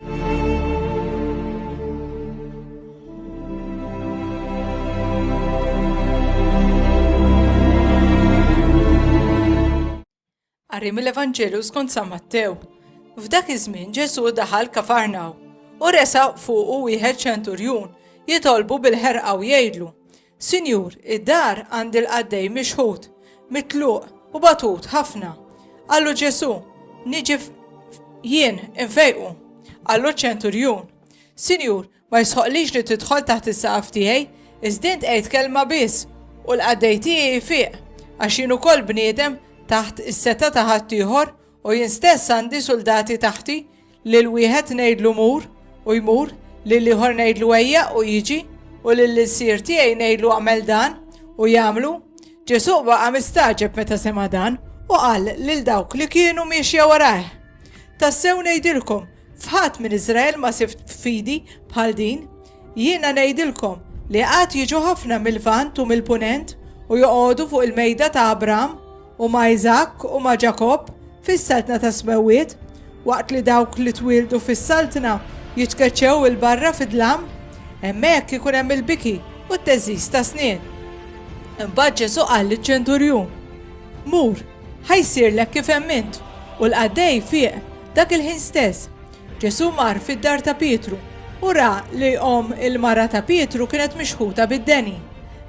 Qari mill-Evanġelju skont San Mattew. F'dak iż-żmien Ġesù daħal kafarnaw u resa fuqu wieħed ċenturjun jitolbu bil-ħerqa u jgħidlu Sinjur, id-dar għand il-qaddej mixħut, mitluq u batut ħafna. Qallu Ġesù, niġi jien infejqu. Qallu ċ-ċenturjun, Sinjur, ma jisħoqlix li tidħol taħt is-saqaf tiegħi, iżdin tgħid kelma biss u l-qaddej tiegħi jfiq, għax jien ukoll bniedem taħt is-seta ta' ħaddieħor U jien stess għandi suldati taħti, lil wieħed ngħidlu mur u jmur, lil ieħor ngħidlu ejja u jiġi, u lil ilsir tiegħi ngħidlu għamel dan u jagħmlu. Ġesu baqa' mistaġeb meta sema' dan u qal lil dawk li kienu miexja warajh. Tassew ngħidilkom F'ħadd minn Iżrael ma sibt fidi bħal din. Jiena ngħidilkom li għad jiġu ħafna mil-Lvant u mill-Punent u joqogħdu fuq il-mejda ta' Abraham u ma' Iżakk u ma' Ġakobb fis-Saltna tas-Smewwiet, waqt li dawk li twieldu fis-Saltna jitkeċċew 'il barra fid-dlam. Hemmhekk ikun hemm il-biki u t-theżżiż tas-snien. Imbagħad Ġesù qal liċ-ċenturjun, Mur, Ħa jsirlek kif emmint. U l-qaddej fieq dak il-ħin stess. Ġesù mar fid-dar ta' Pietru u ra li omm il-mara ta' Pietru kienet mixħuta bid-deni.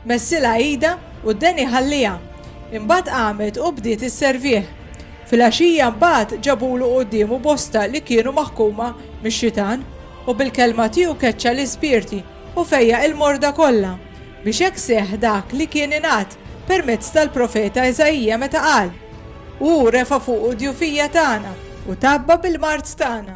Messilha idha u d-deni ħalliha. Imbagħad qamet u bdiet isservih. Filgħaxija mbagħad ġabulu quddiemu bosta li kienu maħkuma mix-xitan, u bil-kelma tiegħu keċċa l-ispirti u fejjaq il-morda kollha. Biex hekk seħħ dak li kien ingħad permezz tal-profeta Iżaija meta qal, Hu refa' fuqu d-djufija tagħna u tgħabba bil-mard tagħna.